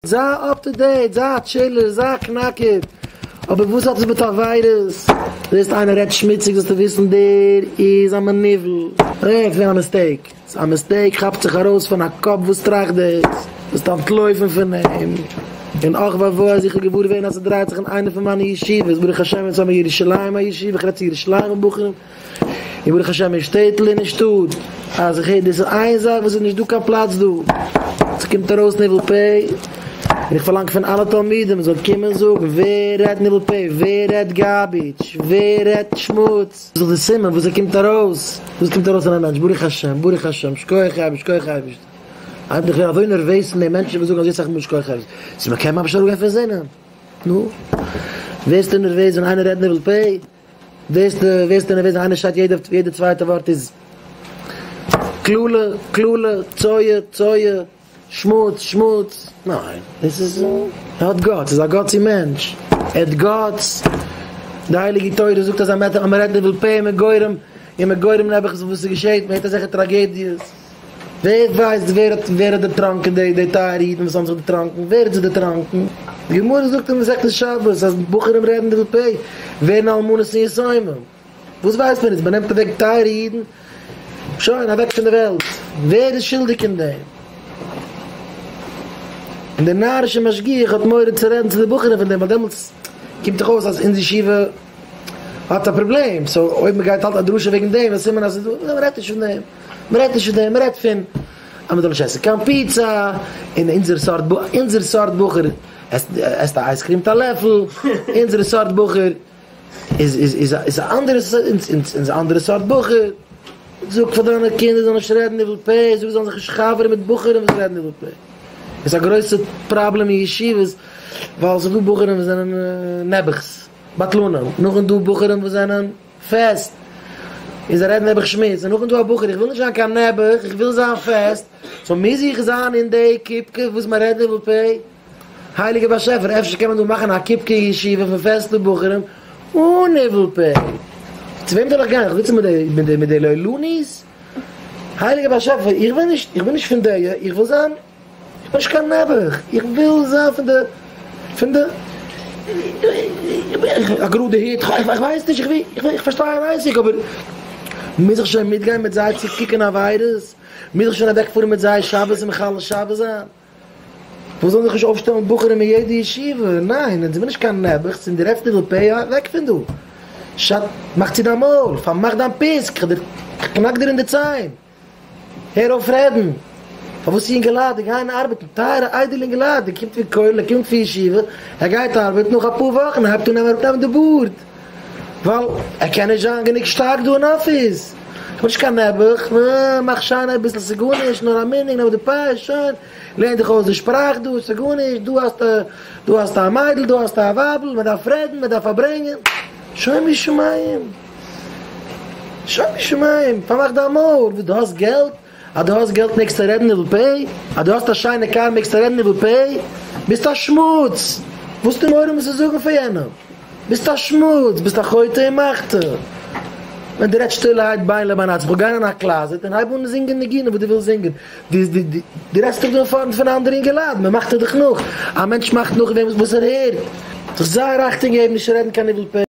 זיי אפ טו דעיט, זיי א טשילער, זיי א קנאקער, אבער וואס האט עס מיט עבירות? ווילסט איינער רעדט שמוציג זאלסטו וויסן דער איז א מניוול, רעדט פון א מיסטעיק, ס'איז א מיסטעיק כאפט זיך ארויס פון א קאפ וואס טראכט דאס, זאלסט אנטלויפן פון אים, און אח ואבוי אז איך בין געוואר געווען אז ס'דרייט זיך אין איינע פון מיינע ישיבות, ברוך השם יצא מירושלים הישיבה, איך רעדט צו ירושלימ'ע בחורים. און ברוך השם אין שטעטל און אין שטאט אז איך הער דאס איז איין זאך וואס איז נישט דא קיין פלאץ דא עס קומט ארויס ניבול פה און איך פארלאנג פון אלע תלמידים מ'זאל קומען זאגן ווער רעדט ניבול פה ווער רעדט גארביטש ווער רעדט שמוץ איז דאך די סימן וואס עס קומט ארויס וואס קומט ארויס אין א מענטש ברוך השם ברוך השם שקויעך אייבערשט שקויעך אייבערשט אז איך בין אזוי נערוועז פון די מענטשן וואס זאגן אזוי סאך מאל שקויעך אייבערשט אז מ'קען ממש אראפגיין פון זינען נו ווערסטו נערוועז ווען איינער רעדט ניבול פה? וועסט וועסט און וועסט איינער שרייט יעדע יעדע צווייטע ווארט איז קללה קללה צואה צואה שמוץ שמוץ ניין עס איז ער האט גאטס איז א גאטסי מענטש ער האט גאטס די הייליגע תורה זאגט אז אז מען רעדט ניבול פה און מען גורם און מען גורם נעבעך וואס עס געשעהט מען הערט אזעלכע טראגעדיעס. ווער ווייסט ווער האט ווער האט דערטראנקען די די טייערע אידן וואס האבן זיך דערטראנקען, ווער האט זיי דערטראנקען? די גמרא זאגט אין מסכת שבת אז בחורים רעדן די ב פ ווערן אלמנות און יתומים, וואס ווייסט מען איצט? מען נעמט אוועק טייערע אידן, שוין אוועק פון די וועלט, ווער איז שולדיג אין דעם? און דער נארישער משגיח האט מורא צו רעדן צו די בחורים פון דעם ווייל דעמאלטס קומט דאך אויס אז אונז ישיבה. האט א פראבלעם, סאו אויב מען גייט האלטן א דרשה וועגן דעם איז סימן אז ס'איז דא, מען רעדט נישט פון דעם, מען רעדט נישט פון דעם, מען רעדט פון אז מען זאל נישט עסן קיין פיצא, און אונזער סארט, אונזער סארט בחור עסט, עסט א אייז קריעם מיט א לעפל, אונזערע סארט בחור איז, איז, איז, איז א אנדערע, אונז אנדערע סארט בחור, זאג פאר דיינע קינדער זאלן נישט רעדן איבער פ', זאג זיי זאלן זיך נישט חבר'ן מיט בחורים וואס רעדן איבער פ', עס איז א גרויסע פראבלעם אין ישיבות ווייל עס איז דא בחורים וואס זענען נעבעכ'ס. בטלנים, נאכדעם דא בחורים וואס זענען פעסט און זיי רעדן נעבעך שמוץ, און נאכדעם דא א בחור איך וויל נישט זיין קיין נעבעך איך וויל זיין פעסט, סאו מוז איך זיין אין די קופקע וואס מען רעדט דא בפה? הייליגער באשעפער אפשר קען מען דא מאכן א קופקע ישיבה פון פעסטע בחורים אן ניבול פה? צו וועם זאל איך גיין? איך זיץ מיט די לויליני'ס? הייליגער באשעפער איך וויל נישט איך בין נישט פון דעיע איך וויל זיין איך בין נישט קיין נעבעך, איך וויל זיין פון די, פון די, א גראדע היט, איך ווייס נישט, איך פארשטיי אן אייסיק אבער מוז איך שוין מיטגיין מיט זיי צו קוקען עבירות? מוז איך שוין אוועק פארען מיט זיי שבת און מחלל שבת זיין? וואס זאלען זיך נישט אויפשטעלען בחורים אין יעדע ישיבה? ניין, אונז זעמיר נישט קיין נעבעכס און דו רעדסט ניבול פה, אוועק פון דא! שאט, מאך צו דיין מויל, פארמאך דיין פיסק, כ'קנאק דיר אין די ציין! הער אויף רעדן! פארוואס יונגעלייט די גייען ארבעטן? טייערע איידעלע יונגעלייט, די קומט פון כולל, ער קומט פון ישיבה, ער גייט ארבעטן, נאך אפאר וואכן הייבט אן אראפ נעמען די בארד, ווייל ער קען נישט זיין גענוג שטארק דא אין אפיס, כ'בין נישט קיין נעבעך, מאך שיין אביסל ס'גארנישט, נאר א מנהג, נעם די פיי, שוין, לערן דיך אויס די שפראך דא, ס'גארנישט, דא האסטו, דא האסטו א מיידל, דא האסטו א ווייבל, מען דארף רעדן, מען דארף פארברענגען, שוין משמים. שומו שמים, פארמאך דיין מויל, וואס דו האסט געלט, אז דו האסט געלט מעגסטו רעדן ניבול פה, אז דו האסט א שיינע קאר מעגסטו רעדן ניבול פה, ביסט א שמוץ, וואסטו מעורר אן צו זאגן פאר יענעם, ביסט א שמוץ, ביסט א חוטא אין מחטא, ווען דו רעדסט שטילערהייט ביין לבין עצמך, וועל גיין אין א קלאזעט און הייב אן זינגען ניגונים וואס דו ווילסט זינגען, דו רעדסט דאך דא אין פארנט פון אנדערע אינגעלייט, מען מאכט דיר דאך נאך, א מענטש מאכט נאך וועם וואס ער הערט, זיך זייער אכטונג געבן נישט רעדן קיין ניבול פה.